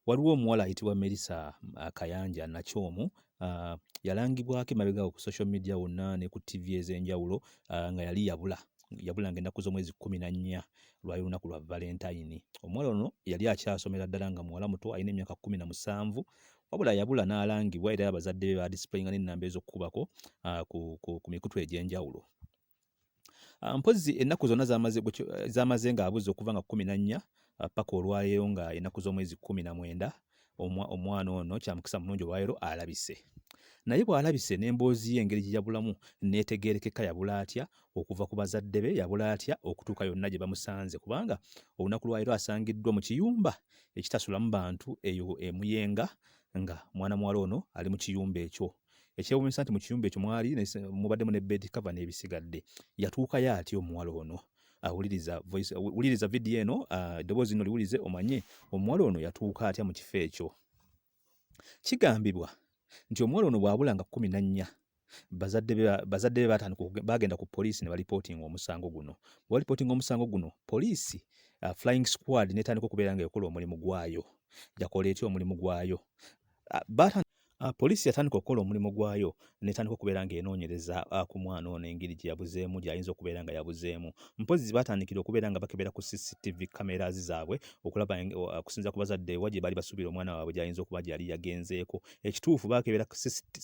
Waliwo omuwala ayitibwa Melissa uh, Kayanja Nakyomu uh, yalangibwako emabegaawo ku social media wonna ne ku ttivi ez'enjawulo uh, nga yali yabula yabula nga ennaku z'omwezi kkumi na nnya lwali lunaku lwa valentayini. Omuwala ono yali akyasomera ddala nga muwala muto alina emyaka kkumi na musanvu wabula yabula n'alangibwa era abazadde be baadisipuleyinga n'ennamba ez'okukubako uh, ku, ku, ku mikutu egy'enjawulo. Ah, mpozzi ennaku zonna zamaze ng'abuze okuva nga kumi na nnya ah, paka olwaleero nga ennaku z'omwezi kumi na mwenda omwana ono kyamukisa mulungi olwaleero alabise naye bw'alabise n'emboozi ye engeri gye yabulamu n'etegeerekeka yabula atya okuva ku bazadde be yabula atya okutuuka yonna gye bamusanze kubanga olunaku lwaleero asangiddwa mu kiyumba ekitasulamu bantu eyo emuyenga nga mwana muwala ono ali mu kiyumba ekyo Ekyewuunyisa nti mu kiyumba ekyo mwali mubaddemu ne bed cover n'ebisigadde. Yatuukayo atya omuwala ono? awuliriza voice wuliriza video eno ah, eddoboozi lino liwulize omanye omuwala ono yatuuka atya mu kifo ekyo. Kigambibwa nti omuwala ono bw'abula nga kkumi na nnya bazadde be baatandika baagenda ku poliisi ne balipootinga omusango guno. Bwe balipootinga omusango guno poliisi ah, flying squad n'etandika okubeera nga ekola omulimu gwayo. Yakola etya omulimu gwayo? Ah, ah, poliisi yatandika okukola omulimu gwayo netandika okubeera ng'enoonyereza ah, ku mwana ono engeri gye yabuzeemu gy'ayinza okubeera nga yabuzeemu mpozzi baatandikira okubeera nga bakebera ku cctv cameras zaabwe okulaba okusinza ku bazadde wa gye baali basuubira omwana waabwe gy'ayinza okuba gyeyali yagenzeeko ekituufu baakebera ku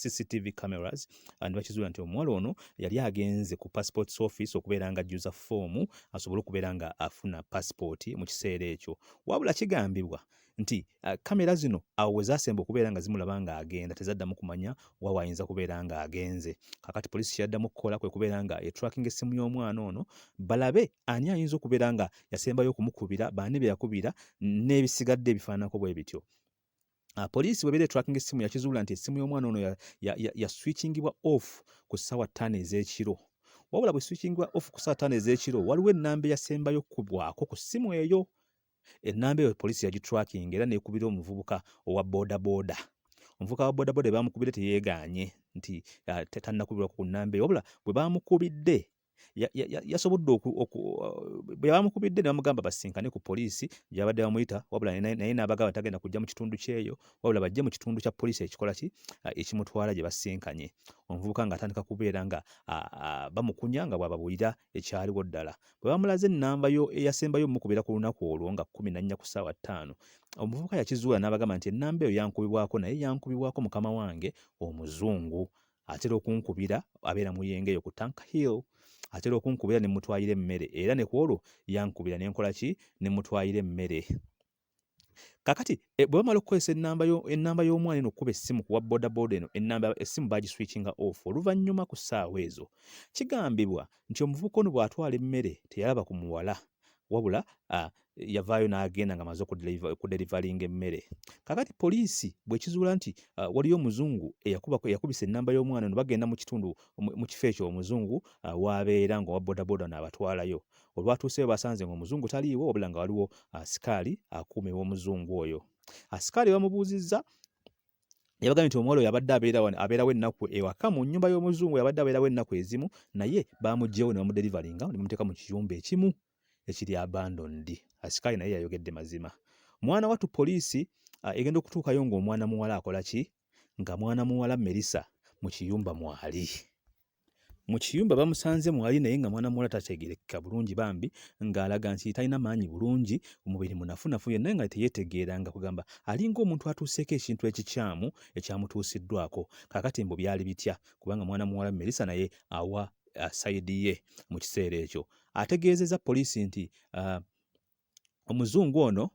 cctv cameras ne bakizuula nti omuwala ono yali agenze ku passports office okubeera nga ajjuza foomu asobole okubeera nga afuna passipooti mu kiseera ekyo wabula kigambibwa nti uh, kamera zino awo we zaasemba okubeera nga zimulaba ng'agenda tezaddamu kumanya wa waayinza kubeera ng'agenze kakati poliisi kyeyaddamu okukola kwe kubeera nga etracking essimu y'omwana ono balabe ani ayinza okubeera nga yasembayo okumukubira baani be yakubira n'ebisigadde ebifaananako bwe bityo Uh, poliisi bwebeera etracking essimu yakizuula nti essimu y'omwana ono yaswitchingibwa ya, ya, ya off ku ssaawa ttaano ez'ekiro wabula bwe switchingibwa off ku ssaawa ttaano ez'ekiro waliwo ennamba eyasembayo kubwako ku ssimu eyo Ennamba eyo poliisi yagiturakinga era n'ekubira omuvubuka owa boodabooda. Omuvubuka wa boodabooda bwe baamukubidde teyeegaanye nti ah, tannakubirwa ku nnamba eyo wabula bwe baamukubidde yasobodde bwe bamukubidde ne bamugamba basinkane ku poliisi gyabadde bamuyita wabula naye n'abagamba tagenda kujja mu kitundu kyeyo wabula bajje mu kitundu kya poliisi ekikola ki ekimutwala gye basinkanye omuvubuka ng'atandika kubeera nga bamukunya nga bw'ababulira ekyaliwo ddala. Bwe baamulaze ennamba yo eyasembayo omukubeera ku lunaku olwo nga kkumi na nnya ku ssaawa ttaano, omuvubuka yakizuula n'abagamba nti ennamba eyo yankubibwako naye yankubibwako mukama wange Omuzungu. Atera okunkubira abeera mu yenga eyo ku Tank Hill. Atera okunkubira ne mmutwalira emmere era ne ku olwo yankubira ne nkola ki ne mmutwalira emmere. kakati eh, bwe bamala okukozesa ennamba y'omwana eno okukuba essimu kuwa bodaboda eno ennamba essimu bagiswitchinga off oluvannyuma ku ssaawa ezo kigambibwa nti omuvubuka ono bw'atwala emmere teyalaba ku muwala wabula ah, yavaayo n'agenda nga amaze okuderivalinga emmere kakati poliisi bwekizuula nti ah, waliyo omuzungu eyakubisa ennamba y'omwana no bagenda mu kitundu mu kifo ekyo omuzungu ah, waabeera nga owa bodaboda naabatwalayo Olwatuuseeyo baasanze ng'Omuzungu taliiwo wabula nga waliwo asikaali akuuma ew'Omuzungu oyo. Asikaali bamubuuzizza yabagambye nti omuwala oyo abadde abeera wano abeerawo ennaku ewaka mu nnyumba y'omuzungu yabadde abeerawo ennaku ezimu naye baamuggyewo ne bamuderivalinga ne bamuteeka mu kiyumba ekimu ekiri abandondi asikaali naye yayogedde mazima mwana wattu poliisi ah, egenda okutuukayo ng'omwana muwala akola ki nga mwana muwala Melissa mu kiyumba mwali. Mu kiyumba bamusanze mwali naye nga mwana muwala tategerekeka bulungi bambi ng'alaga nti talina maanyi bulungi, omubiri munafunafu yenna nga teyetegeera nga kugamba alinga omuntu atuuseeko ekintu ekikyamu ekyamutuusiddwako. Kaakati mbu byali bitya kubanga mwana muwala Melissa naye awa uh, sayidi ye mu kiseera ekyo. Ategeezezza poliisi nti uh, omuzungu ono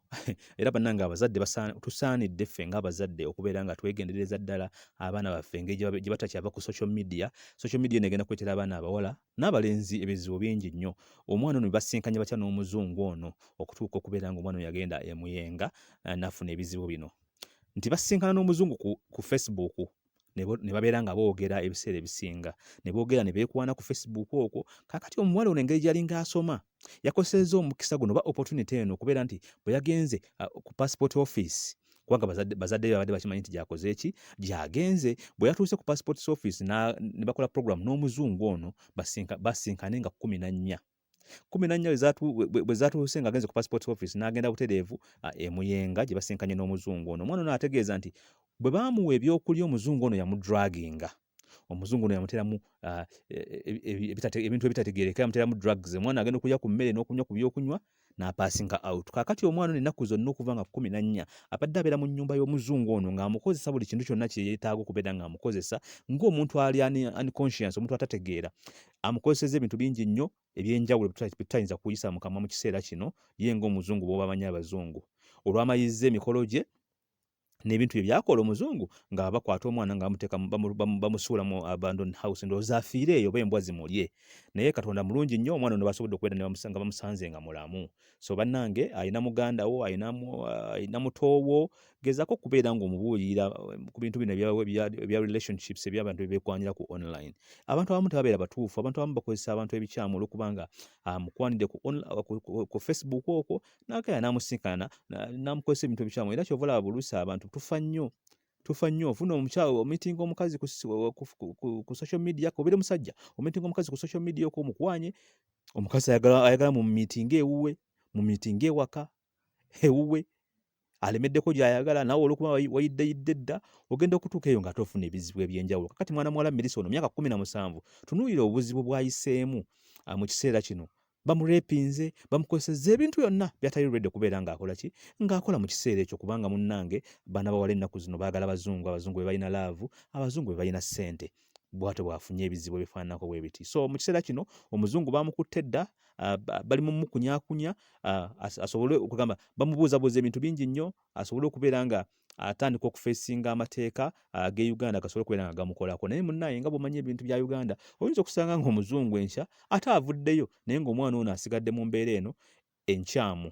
era bannange abazadde tusaanidde ffe ng'abazadde okubeera nga twegendereza ddala abaana baffe engeri gye batakyava ku social media social media negenda kuleetera abaana abawala n'abalenzi ebizibu bingi nnyo omwana ono basinkanya batya n'omuzungu ono okutuuka okubeera nga omwana yagenda emuyenga eh, nafuna ebizibu bino nti basinkana n'omuzungu ku, ku facebook ne babeera nga boogera ebiseera ebisinga ne boogera ne beekwana ku facebook okwo kakati omuwala ono engeri gyalinga asoma yakozesezza omukisa guno oba opportunity eno okubeera nti bwe yagenze uh, ku passport office kubanga bazadde babadde bakimanyi nti gyakoze eki gyagenze bwe yatuuse ku passport office ne bakola program n'omuzungu ono basinkane nga kumi na nnya kumi na nnya bwe zaatuuse ng'agenze ku passport office n'agenda butereevu e Muyenga gye basinkanye n'omuzungu ono omwana ono ategeeza nti bwe baamuwa ebyokulya omuzungu ono yamudraginga omuzungu ono yamuteramu ah, e, e, e, ebintu ebitategeereka yamuteramu drugs omwana agenda okulya ku mmere n'okunywa ku byokunywa n'apaasinga out kaakati omwana ono ennaku zonna okuva nga kumi na nnya abadde abeera mu nnyumba y'omuzungu ono ng'amukozesa buli kintu kyonna kye yeetaaga okubeera ng'amukozesa ng'omuntu ali unconscience omuntu atategeera amukozeseza ebintu bingi nnyo ebyenjawulo bitayinza kuyisa mu kamwa mu kiseera kino ye ng'omuzungu bw'oba amanyi abazungu olw'amayizza emikolo gye n'ebintu bye byakola omuzungu nga bakwata omwana nga bamuteeka bamusuula mu abandon house ndowooza afiire eyo oba embwa zimulye naye katonda mulungi nnyo omwana ono basobodde okubeera nga bamusanze nga mulamu so bannange alina muganda wo alina mutoowo gezako okubeera nga omubuulirira um, ku bintu bino ebya relationships ebyabantu bebekwanira ku online abantu abamu tebabeera batuufu abantu abamu bakozesa abantu ebikyamu olwokubanga ah, mukwanidde ku facebook okwo nagaya namusinkana namukozesa ebintu ebikyamu era kyova olaba bulusa abantu tufa nnyo tufa nnyo ofuna omukyalo omitinga omukazi ku social media obeera omusajja omitinga omukazi ku social media okwo omukwanye omukazi ayagala mu miitinga ewuwe mu miitinga ewaka ewuwe alemeddeko gyayagala nawe olwokuba wayiddeyidde dda ogenda okutuuka eyo ngaate ofuna ebizibu ebyenjawulo kakati mwana muwala mirisa ono myaka kumi na musanvu tunuulira obuzibu bwayiseemu ah, mu kiseera kino bamurepinze bamukozeseza ebintu byonna byatali redi okubeera ngaakola ki ngaakola mu kiseera ekyo kubanga munnange baana bawala ennaku zino baagala bazungu abazungu be balina laavu abazungu be balina ssente bwatyo bwafunye ebizibu ebifaananako bwe biti so mu kiseera kino omuzungu baamukutte dda ah, bali mu mukunyakunya ah, asobole okugamba bamubuuzabuuza ebintu bingi nnyo asobole okubeera nga atandika okufeesinga amateeka ah, ge uganda gasobole okubeera nga gamukolako naye munaye nga bwomanyi ebintu bya uganda oyinza okusanga ngaomuzungu enkya ate avuddeyo naye ngaomwana ono asigadde mu mbeera eno enkyamu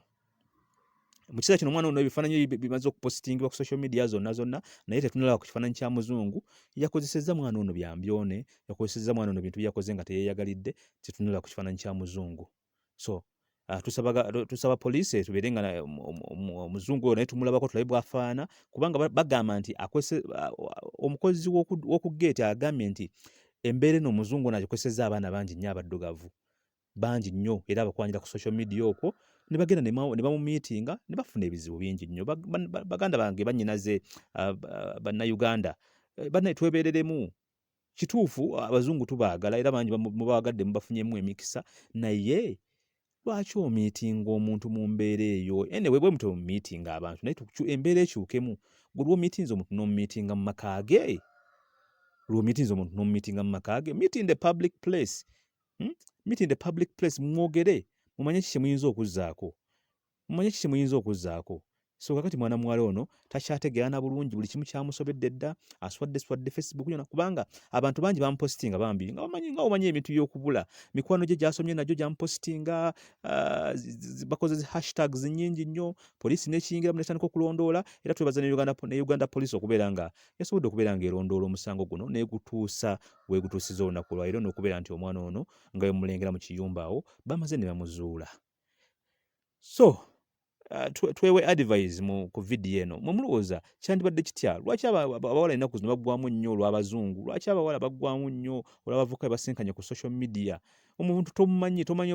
mu kiseera kino omwana ono ebifaananyi bimaze okupositingibwa ku social media zonna zonna naye tetunalaba ku kifaananyi kya muzungu yakozesezza mwana ono byambyone yakozesezza mwana ono bintu byakoze nga teyeyagalidde tetunalaba ku kifaananyi kya muzungu so ah, tusaba poliisi etubeere nga omuzungu oyo naye tumulabako tulabe bwafaana kubanga bagamba nti ah, omukozi w'oku geeti agambye nti embeera eno omuzungu ono agikozesezza abaana bangi nnyo abaddugavu bangi nnyo era abakwanira ku social media okwo ne bagenda ne bamumiitinga ne bafuna ebizibu bingi nnyo baganda bange bannyinaze ah, ah, bannayuganda eh, bannaye twebeereremu kituufu abazungu tubaagala era bangi mubaagadde mubafunyemu emikisa naye lwaki omiitinga omuntu mu mbeera eyo ene webwe mutwe mumiitinga abantu naye embeera ekyukemu gwe lwomiitinza omuntu nomumiitinga mu maka ge lwomiitinza omuntu nomumiitinga mu maka ge meet in the public place Hmm? Meet in the public place mwogere mumanye ki kyemuyinza okuzzaako mumanye ki kyemuyinza okuzzaako so kakati mwana muwala ono takyategeera na bulungi buli kimu kyamusobedde dda aswadde swadde facebook yona kubanga abantu bangi bamupositinga bambi nga bamanyi nga omanyi ebintu byokubula mikwano gye gyasomye nagyo gyamupositinga ah, bakoze zi hashtags nyingi nnyo poliisi nekiyingiramu netandika okulondoola era twebaza ne uganda, ne uganda poliisi okubeera nga esobodde okubeera ng'erondoola omusango guno n'egutuusa wegutuusiza olunaku olwaliro n'okubeera nti omwana ono nga wemulengera mu kiyumba awo bamaze ne bamuzuula so uh, twewe advise mu ku vidiyo eno mwe mulowooza kyandibadde kitya lwaki abawala ennaku zino baggwamu nnyo olw'abazungu lwaki abawala baggwamu nnyo olw'abavuka bebasinkanye ku social media omuntu tomumanyi tomanyi